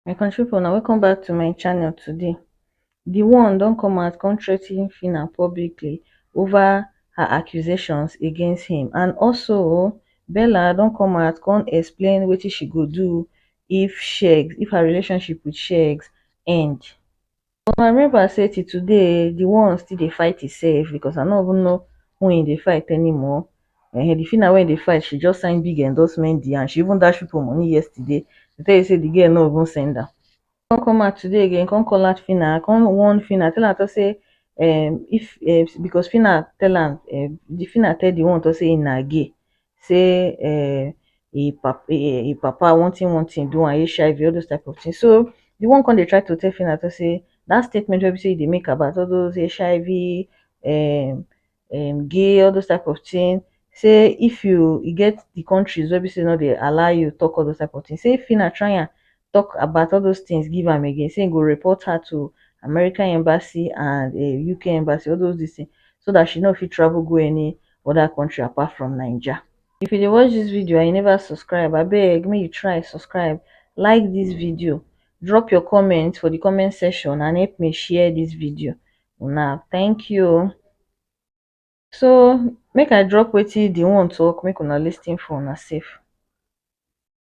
my country people, now welcome back to my channel today The one don't come out come threaten fina publicly over her accusations against him and also bella don't come out come explain what she go do if shegs if her relationship with shegs end but my member say till today di one still dey fight imsef becos i no even know who im dey fight anymore um di fina wey im dey fight she just sign big endorsement deal and she even dash pipo money yesterday to tell you say di girl no even send am come come out today again come call out fina come warn fina tell am tok say um if um becos fina tell am um di fina tell di one tok say im na gay sey um e e papa one thing one thing do am, HIV all those type of thing. So di one come dey try to tell Phyna to sey dat statement wey be sey e dey make about all those HIV um um gay all those type of thing sey if you e get di countries wey be sey no dey allow you talk all those type of thing sey Phyna try am tok about all those tins give am again say im go report her to American embassy and um UK embassy all those dis tin so dat she no fit travel go any oda country apart from Naija. If you dey watch dis video and you never subscribe abeg make you try subscribe, like dis video, drop your comment for di comment section and help me share dis video una thank you o. So make I drop wetin di one tok make una lis ten for una sef.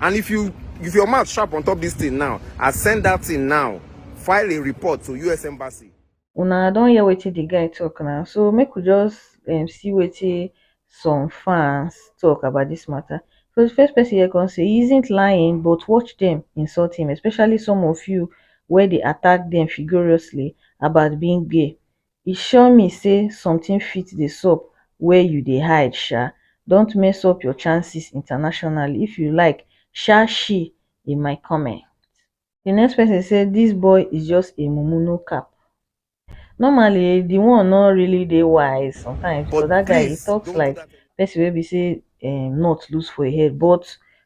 And if you if your mouth sharp on top this thing now, I send that thing now. File a report to US Embassy. Una don hear wetin the guy talk now, so make we just um, see wetin some fans talk about this matter. So the first person here can say he isn't lying, but watch them insult him, especially some of you where they attack them furiously about being gay. e sure me say something fit dey sup where you dey hide sha don't mess up your chances internationally if you like sha she in my comment the next person say this boy is just a mumu no cap normally the one no really dey wise sometimes but that guy he talks like person wey be say um nut loose for him head but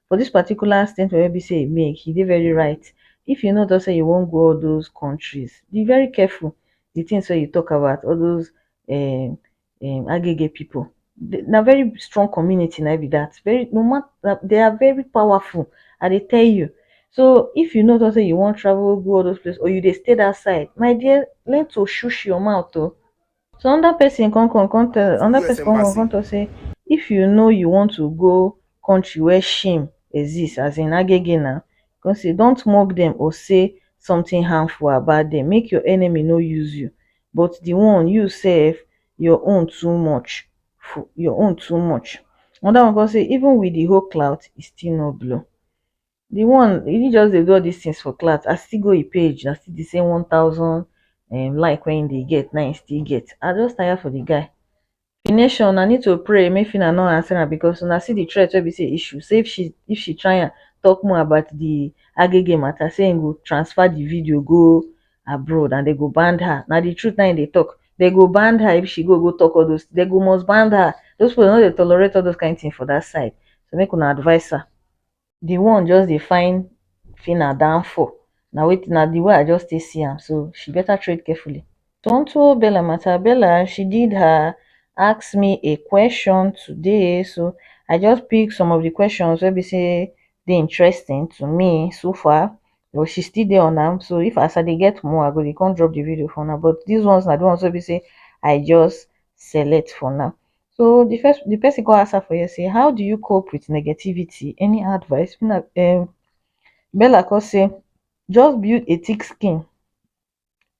for this particular statement wey be say he make he dey very right if you no talk say you wan go all those countries be very careful the things wey you talk about all those um um agege people na very strong community na be that very no matter they are very powerful i dey tell you so if you know say you wan travel go all those places or you dey stay that side my dear learn to shush your mouth o so another person come come come tell another person come come come talk say if you know you want to go country where shame exist as in agege na Con say, Don't mock dem or say sometin harmful about dem, make your enemy no use you. But di one, you sef, your own too much, your own too much. Anoda one con say, Even wit di whole clout, e still no blow. Di one, e just dey do all dis tins for clout, as e still go im page, na still di same one thousand um like wey im dey get, na im e still get. I just tire for di guy. The nation una need to pray make Phyna no answer am because una see the threat wey be say issue say if she if she try am talk more about the agege matter say im go transfer the video go abroad and they go ban her na the truth na im dey talk they go ban her if she go go talk all those they go must ban her those people no dey tolerate all those kind thing for that side so make una advice her. the one just dey find phyna downfall na weyth na the way i just take see am so she better tread carefully onto bella matter bella she did her ask me a question today so i just pick some of the questions wey be say dey interesting to me so far but she still dey on am so if as i dey get more i go dey come drop the video for una but this ones na the ones wey be say i just select for now So the first the person go ask her for here say, how do you cope with negativity? Any advice? Una um Bella come say, just build a thick skin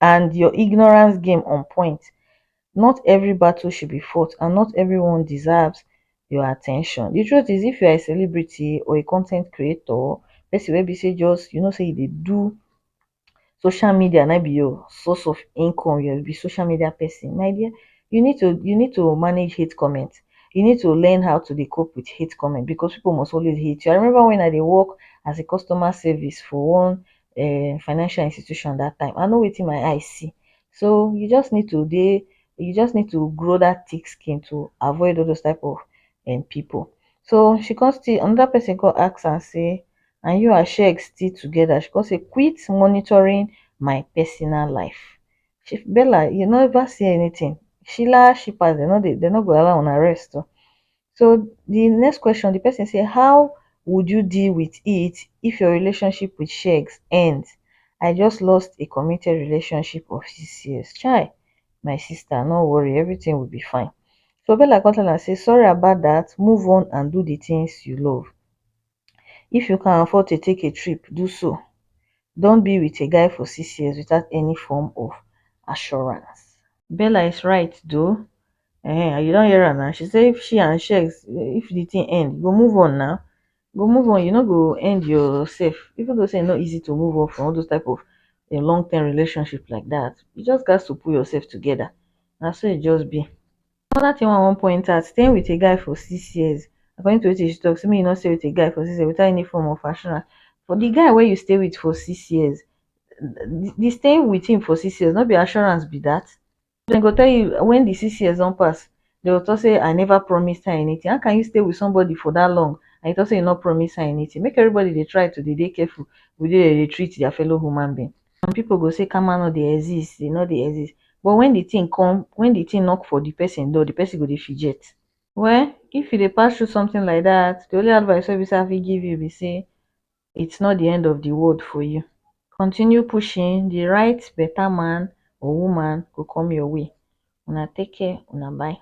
and your ignorance game on point. Not every battle should be fought and not everyone deserves your attention. The truth is if you are a celebrity or a content creator, person wey be say just you know say you dey do social media na be your source of income, you be social media person, my dear you need to you need to manage hate comment, you need to learn how to dey cope with hate comment because people must always hate you. I remember when I dey work as a customer service for one um financial institution that time, I know wetin my eye see. So you just need to dey you just need to grow that thick skin to avoid all those type of um people. So she come still another person come ask am say and you and sheg still together she come say quit monitoring my personal life she bella you never see anything shila shippers dem no dey dem no go allow una rest o so the next question the person say how would you deal with it if your relationship with shegs ends i just lost a committed relationship of six years chai my sister no worry everything will be fine so bella come tell am say sorry about that move on and do the things you love if you can afford to take a trip do so don be wit a guy for six years without any form of assurance bella is right though um you don hear am na she say if she and shex if di tin end you go move on na you go move on you no go end yourself even though say e no easy to move on from all those type of um long term relationship like dat you just gatz to put yourself together na so e just be Another thing wey I wan point out, staying with a guy for six years, according to wetin she talk say make you no stay with a guy for six years without any form of assurance. For the guy wey you stay with for six years, the staying with him for six years no be assurance be that? Dem go tell you when the six years don pass, dem go talk say I never promised her anything. How can you stay with somebody for that long and you talk say you no promise her anything? Make everybody dey try to dey dey careful with the way dem dey treat their fellow human being. some people go say karma no dey exist, e no dey exist but when the thing come, when the thing knock for the person door, the person go dey fijet. Well, if you dey pass through something like that, the only advice wey be say I fit give you be say it's not the end of the world for you. Continue pushing, the right better man or woman go come your way. Una take care, una bye.